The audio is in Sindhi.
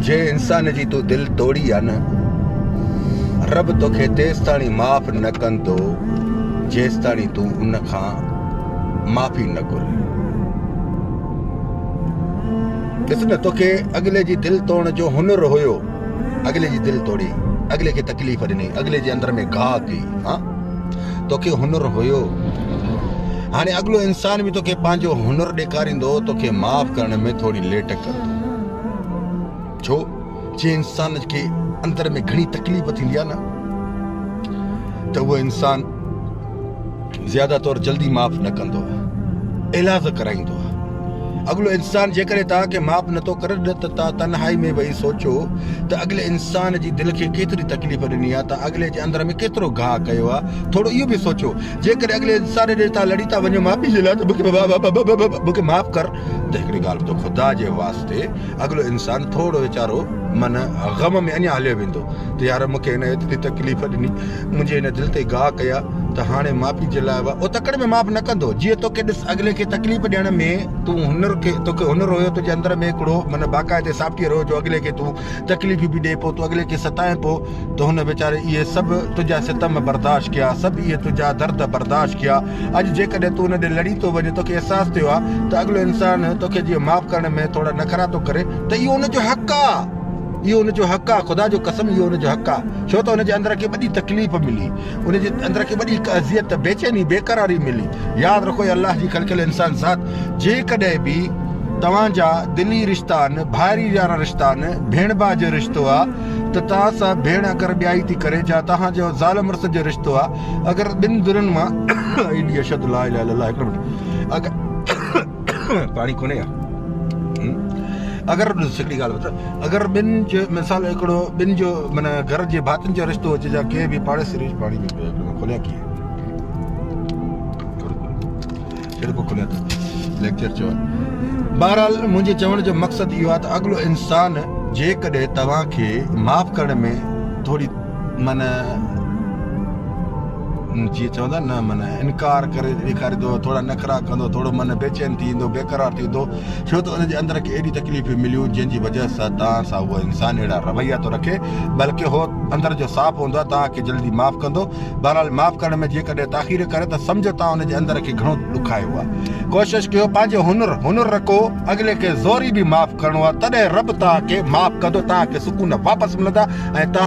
جي انسان جي تون دل توڙي آ نه رب توکي تيستاڻي معاف نه ڪندو جيستاڻي تون ان کان معافي نه گهر ڏس نه توکي اڳلي جي دل توڙڻ جو هنر هيو اڳلي جي دل توڙي اڳلي کي تڪليف ڏني اڳلي جي اندر ۾ گاهه ڪئي ها توکي هنر هيو هاڻي اڳلو انسان به توکي پنهنجو هنر ڏيکاريندو توکي معاف ڪرڻ ۾ ٿوري ليٽ ڪندو ڇو جي انسان کي اندر ۾ گهڻي تڪليف ٿيندي آهي نه ته اهو انسان زياده طور جلدي معاف نه ڪندو علاج ڪرائيندو اڳلو انسان جيڪڏهن توهان کي معاف نٿو ڪري ته توهان تنهائي ۾ ويهي سوچو ته اڳلي انسان جي دل کي ڪيتري تڪليف ڏني آهي، توهان اڳلي جي اندر ۾ ڪيترو گاهه ڪيو آهي، ٿورو اهو به سوچو جيڪڏهن اڳلي انسان ڏي توهان لڙي ٿا وڃو معافي جي لاء ته مون کي معاف ڪر ته هڪڙي ڳالهه ٻڌو خدا جي واسطي اڳلو انسان ٿورو ويچارو من غم ۾ اڃا هليو ويندو ته يار مون کي هن ايتري تڪليف ڏني. منهنجي هن دل تي گاهه ڪيا ته هاڻي معافي جي لاء اهو تڪڙ ۾ معاف نه ڪندو جيئن توکي ڏس اڳلي کي تڪليف ڏيڻ ۾ تون هنر کي توکي هنر هيو تنهنجي اندر ۾ هڪڙو معنيٰ باقاعدي سافٽ ويئر هيو جو اڳلي کي تون تڪليفيون به ڏئين پيو تون اڳلي کي ستائين پيو ته هن ويچاري اهي سڀ تنهنجا ستم برداشت ڪيا سڀ اهي تنهنجا درد برداشت ڪيا اڄ جيڪڏهن تون هن ڏي لڙي ٿو وڃين توکي احساس ٿيو آهي ته اڳلو انسان توکي جيئن معاف ڪرڻ ۾ ٿورا نخرا ٿو ڪري ته اهو هن جو حق آهي اهو هن جو حق آهي خدا جو قسم اهو هن جو حق آهي ڇو ته ان جي اندر کي وڏي تڪليف ملي، ان جي اندر کي وڏي هڪ اذيت، بيچيني، بيقراري ملي. ياد رکو اي الله جي خلقيل انسان ذات! جيڪڏهن به توهان جا دلي رشتا آهن، ڀائري ويارا رشتا آهن، ڀيڻ ڀاء جو رشتو آ ته توهان سان ڀيڻ اگر ٻيائي ٿي ڪري، جا توهان جو زال مڙس جو رشتو آ اگر ٻن ڌرين مان ايڏي اشد لا اله الا الله هڪڙو منٽ اگر پاڻي ڪونهي ها اگر هڪڙي ڳالهه ٻڌ. اگر ٻن جو مثال هڪڙو ٻن جو معنيٰ گهر جي ڀاتين جو رشتو هجي جا ڪنهن به پاڙيسري ريش پاڙي ۾ پيو هڪڙو کوليان ڪيئن ڇڙ پو کوليان ته ليڪچر چو بهرحال منهنجي چوڻ جو مقصد اهو آهي ته اڳلو انسان جيڪڏهن توهان کي معاف ڪرڻ ۾ ٿوري من جي چوندا نه من انڪار ڪري ڏيکاري ٿو ٿورا نخرا ڪندو ٿورو من بيچين ٿي ويندو بيقرار ٿي ويندو ڇو ته ان جي اندر کي اهڙيون تڪليفون مليون جن جي وجه سان توهان سان اهو انسان اهڙا رويا ٿو رکي بلڪ هو اندر جو صاف هوندو آهي توهان کي جلدي معاف ڪندو بهرحال معاف ڪرڻ ۾ جيڪڏهن تاخير ڪري ته سمجهو توهان ان جي اندر کي گهڻو ڏکايو آهي ڪوشش ڪيو پنهنجو هنر هنر رکو اڳلي کي زوري به معاف ڪرڻو آهي تڏهن رب توهان کي معاف ڪندو توهان کي سڪون واپس ملندا ۽ توهان